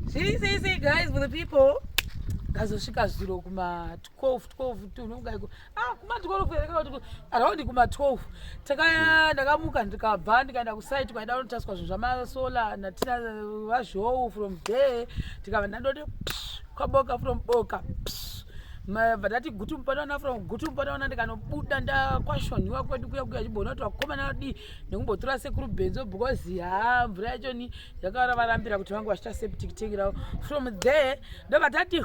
Sei sei sei guys for the people. Kazosvika zviro kuma 12 12 tunonga iko. Ah kuma 12 kuereka kuti around kuma 12. Taka ndakamuka ndikabva ndikaenda ku site kwaida kunotaswa zvinhu zvama solar na tina vazhowo from there. Tikava ndandoti kwaboka from boka. Vadati gutu mpanaona from gutu mpanaona ndikanobuda ndakwashonhiwa kwedu kuya kuya chibono kuti vakomana vadii. nekumbotora sekuru benzo because ha mvura yacho ni yakaora varambira kuti vange vachita septic tank ravo from there ndobva tati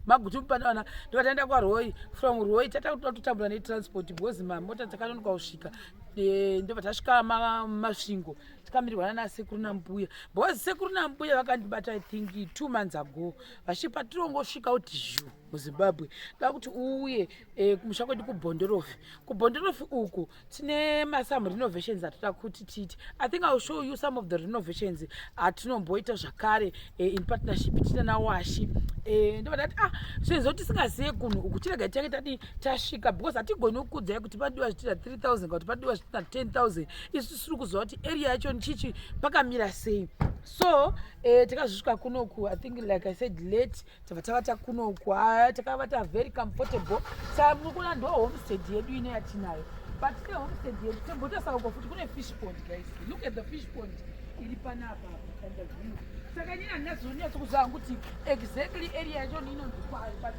maguti mupadawana ndobva taenda kwaroi from roi tata kuti tatotambura netransport because mamota takanonoka kusvika eh, ndobva tasvika masvingo tikamirirwana nasekuru nambuya because sekuru nambuya vakandibata i think two months ago vachipa tirongosvika kuti zhu muzimbabwe kaa kuti uuye eh, kumusha kwedu kubhondorofi kubhondorofi uku tine masome renovations atoda kuti tiite i think iwill show you some of the renovations atinomboita zvakare eh, in partnership tiita nawashi eh, ndobata ati ah sezvo tisingazive kunhu uku tirega tiake tadi tasvika because hatigoni kukudzai kuti padiwa zvitina 3 000 kuti padiwa zvitina 10 000 isu tisiri kuziva kuti area yacho ndichichi pakamira sei so eh, tikazosvika kunoku i think like i said late tava tavata kunoku haya takavata very comfortable saa munokuona ndo homestead yedu ine yatinayo but ne homestead yedu tembotasawo ko futi kune fish pond guys look at the fish pond iri panapa kanda view saka nyina ndinazonyatso kuzaa kuti exactly area yacho niinonzi kwari but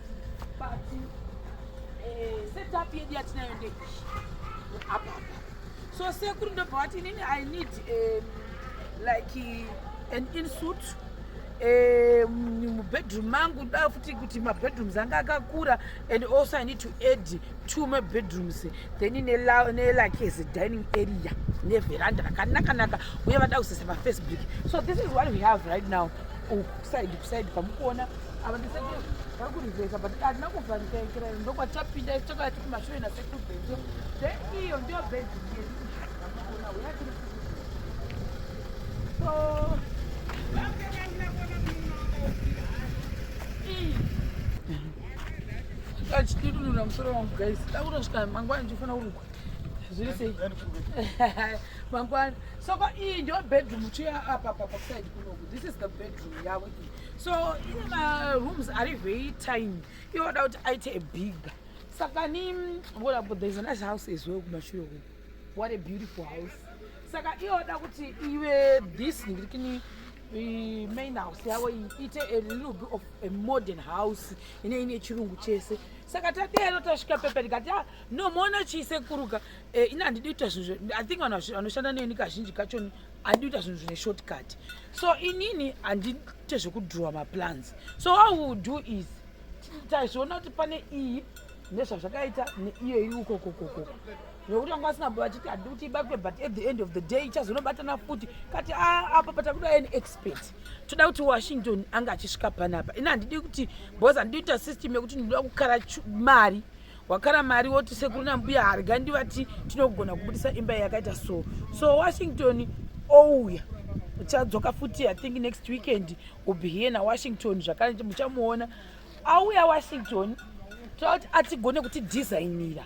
but eh, setup yedu yatinayo ndeishi apapa so sekuru ndobva vati inini i need um, like an insuit Eh, mubedroom mangu da futi kuti mabedrooms anga akakura and also i need to add two mabedrooms then nelike as a dining area neveranda rakanakanaka uye vada kusesa pafacebook so this is what we have right now kusaidi kusaidi kwamukuona ava ndiseke vari kurivesa but hatina kuvhanikainkira ndokwatapinda tokaa tikumashure nasekubedro then iyo ndiyo bedroom yedu vamukuona uya tiri achitunura musoro wangu guys takutosvika mangwana ndichifana kurukwa zviri sei mangwana soko iyi ndio bedroom chiya apa apa pakusaid kunoku this is the bedroom yavo iyi so ine marooms ari very tiny ivoda kuti aite bigger saka ni ngoda but there is a nice house as well kumashure kuno what a beautiful house saka iyoda kuti ive this ndiri kini main house yavo iite a little bit of a modern house ine ine chirungu chese saka tadero tasvika pepe ndikati ah, no moona chiisekuruka eh, ini handidi kuita zvinhu i think vanhu vanoshanda neni kazhinji kachoni handidi kuita zvinhu zvine short cut so inini handiite zvekudrowa maplans so how will do is tazviona kuti pane iyi nezvazvakaita neiyo iri ukokokoko nokuti vanga vasina mbo vachiti hadi kuti ibatwe but at the end of the day ichazonobatana futi kati ah, apa patakuda an expert toda kuti washington anga achisvika panapa ini handidi kuti bos handidi kuita system yekuti ndinoda kukara mari wakara mari woti sekuru nambuya harga ndivati tinogona kubudisa imba yakaita so so washington ouya oh, uchadzoka futi i think next weekend will be here nawashington zvakare muchamuona auya washington toda kuti atigone kuti designira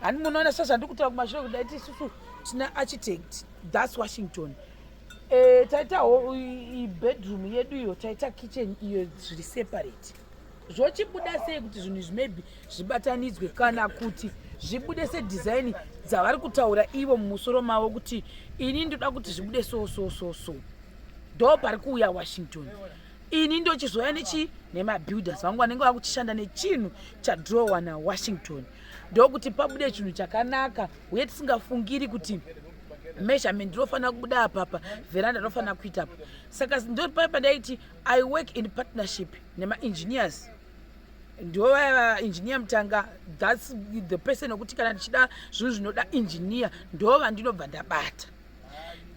hani munoona sva zvandiri kutaura kumashure kudai tisusu tina architect thus washington e, taita bedroom yedu iyo taita kitchen iyo zviri separate zvochibuda sei kuti zvinhu izvi maybe zvibatanidzwe kana kuti zvibude sedhizaini dzavari kutaura ivo mumusoro mavo kuti ini ndoda kuti zvibude so so so so ndo pari kuuya washington ini ndochizouya nechii nemabuilders vangu vanenge vakuchishanda nechinhu chadrowa nawashington ndokuti pabude chinhu chakanaka uye tisingafungiri kuti measurement rinofanira kubuda apapa veranda rinofanira kuita apa saka ndopai pandaiti i work in partnership nemaengineers ndovaya engineer mutanga thats the person wekuti kana ndichida zvinhu zvinoda engineer ndova ndinobva ndabata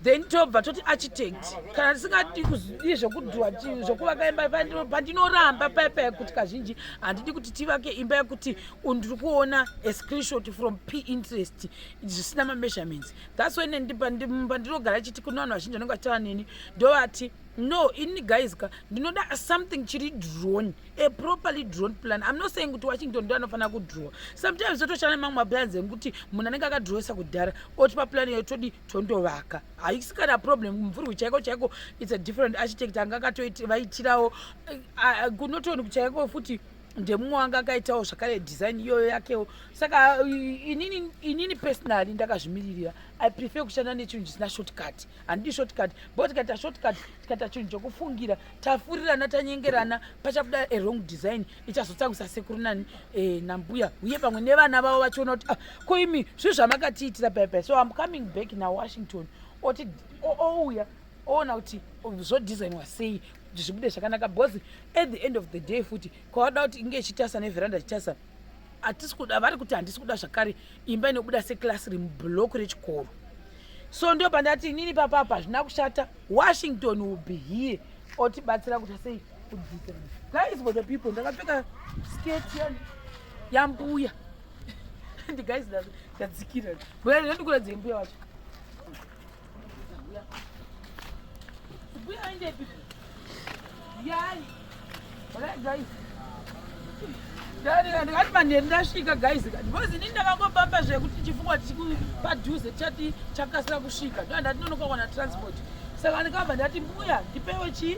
then tobva toti architect kana tisingadi kuzidii zvekudhuwa zvekuvaka imba pandinoramba paya paya kuti kazhinji handidi kuti tivake imba yekuti ndiri kuona a screenshot from p interest zvisina mameasurements thats why neni pandinogara chiti kune vanhu vazhinji vanenge vachitaura neni ndovati no ini guys ka ndinoda something chiri drone a properly drawn plan i'm not saying kuti washington ndo anofanira kudrowa sometimes totoshana nemamwe maplans ekuti munhu anenge akadrowesa kudhara oti paplan iyo todi tondovaka haisi kana problem mvurwi chaiko chaiko its a different architect anga akatovaitirawo eh, ah, kunotoni kuchaiko futi ndemumwe wanga akaitawo zvakare design iyoyo yakewo saka eh, inini, inini personally ndakazvimiririra i prefer kushanda nechinhu chisina shortcut handidi shortcut bo tikaita shortcut tikaita chinhu chokufungira tafurirana tanyengerana pachabuda a wrong design ichazotsangisa sekuru nani e, nambuya uye pamwe nevana vavo vachiona kuti ah, ko imi zvinhu zvamakatiitira bebe so im coming back nawashington oti ouya oona kuti zvodesign wasei kuti zvibude zvakanaka because at the end of the day futi kwawada kuti inge ichitasa neveranda chitasa hatisi kuda vari kuti handisi kuda zvakare imba inobuda seklasi remublock rechikoro so ndo pandati inini papapa hazvina kushata washington will be here otibatsira kuti sei kudzidza guys for the people ndakapfeka skate yani yambuya ndi guys ndadzikira mbuya ndikuradze mbuya wacho ndakati manheru ndasvika guys because ini ndakangopamba zvekuti chifungwa padhuze chati chakasira kusvika ndoandati nonokakwana transport saka ndikabva ndati mbuya ndipewe chii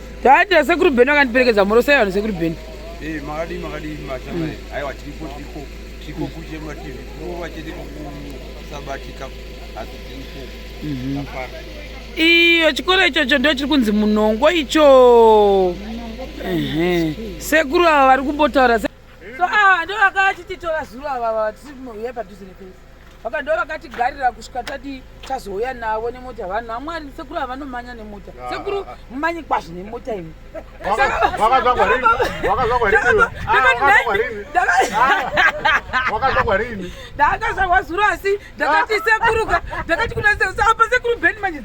Taita sekuru Beni vakandiperekedza mhoro sei vanhu sekuru Beni. Eh makadii makadii mashamba. Aiwa tiripo tiripo tiripo kuje mativi. Kuva chete kusabatika asi tiripo. Mhm. Apana. Iyo chikoro ichocho ndio chiri kunzi munongo icho. Ehe. Sekuru ava vari kumbotaura so ah ndo vakatitora zuro ava vatisiuya padhuze nepesi vaka ndo vakatigarira kusvika tati tazouya navo nemota vanhu vamwari sekuru havanomanya nemota ah, sekuru ah, ah. mumanyi kwazvo nemota imi ndakazvarwa zuro asi ndakati sekuruka ndakati kuna apa sekuru beni manje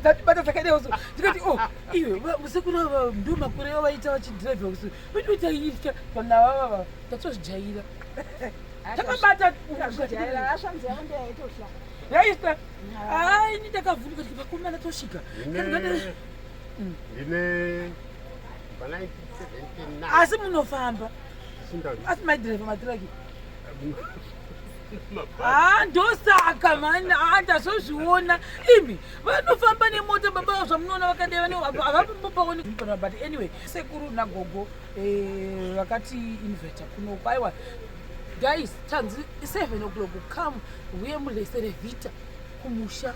dzatibata dzakadeo so ndikati o oh, iwe sekuru ava ndo makore avo vaita vachidhiraivha kusuru Wedu taitya vanhu avavava tatozvijaira takabata yaita haa ini ndakavhunduka kuti vakomana tosvika asi munofamba asi maidhireva matiraki haa ndosaka mani haa ndazozviona imi vanofamba nemota baba avo zvamunoona vakadai vane havambopaoni kutora but anyway sekuru nagogo eh, vakati inveta kuno kwaiwa guys tanzi seven o'clock come huye mulesere vita kumusha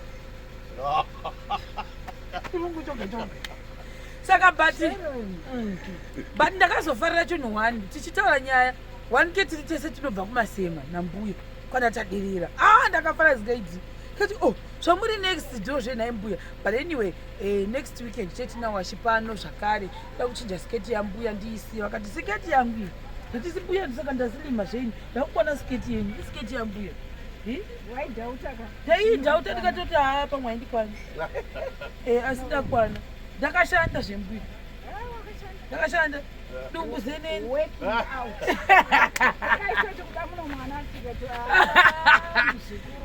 chirungu choga choga saka but mm, but ndakazofarira chinhu one tichitaura nyaya one ke tiri tese tinobva kumasema nambuya kana tadirira a ah, ndakafara zikaidzi kati o oh, zvamuri next ndo zvenhai mbuya but anyway eh, next weekend chetinawashi pano zvakare da kuchinja siketi yambuya ndiisiye vakati siketi yangu nditisi mbuya ndisaka ndazilima zvenyu ndakukwana siketi yenyu isiketi yambuya ndaidhauta ndikatoti haa pamwe aindikwana eh, asi ndakwana ndakashanda zvembuya ah, Yakashanda. Dumbu zeneni. Working out. Akaitoita kuda muno mwana asikati.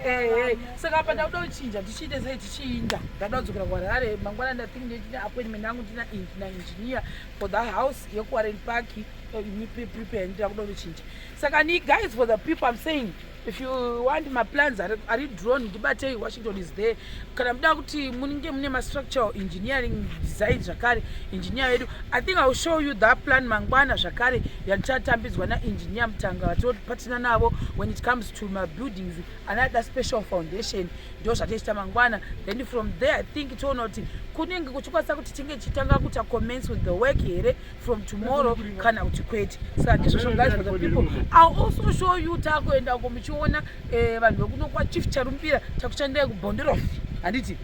Eh eh. Saka apa ndakuda kuchinja tichiita sei tichiinda. Ndada kudzokera kuHarare mangwana nda think ndine appointment yangu ndina na engineer for the house yekuWarren Park. Eh, prepare ndira kuda kuchinja. Saka ni guys for the people I'm saying. if you want maplans ari, ari drone ndibatei washington is there kana muda kuti munenge mune mastructural engineering design zvakare engineer vedu i think iwill show you that plan mangwana zvakare yandichatambidzwa naengineer mutanga vatopatina navo when it comes to mabuildings anada special foundation ndo zvatichita mangwana then from there i think toona kuti kunenge kuchikwanisa kuti tinge tichitanga kuita commence with the work here from tomorrow kana kuti kwete saka ndizvozvo guys for the people ill also show you takuenda uko muchiona eh, vanhu vekuno kwachief charumbira takuchandira kubonderof handiti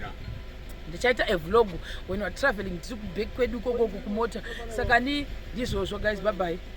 ndichaita evlog when weare traveling tiri kuback kwedu ikokoko kumota saka ni ndizvozvo guys bye bye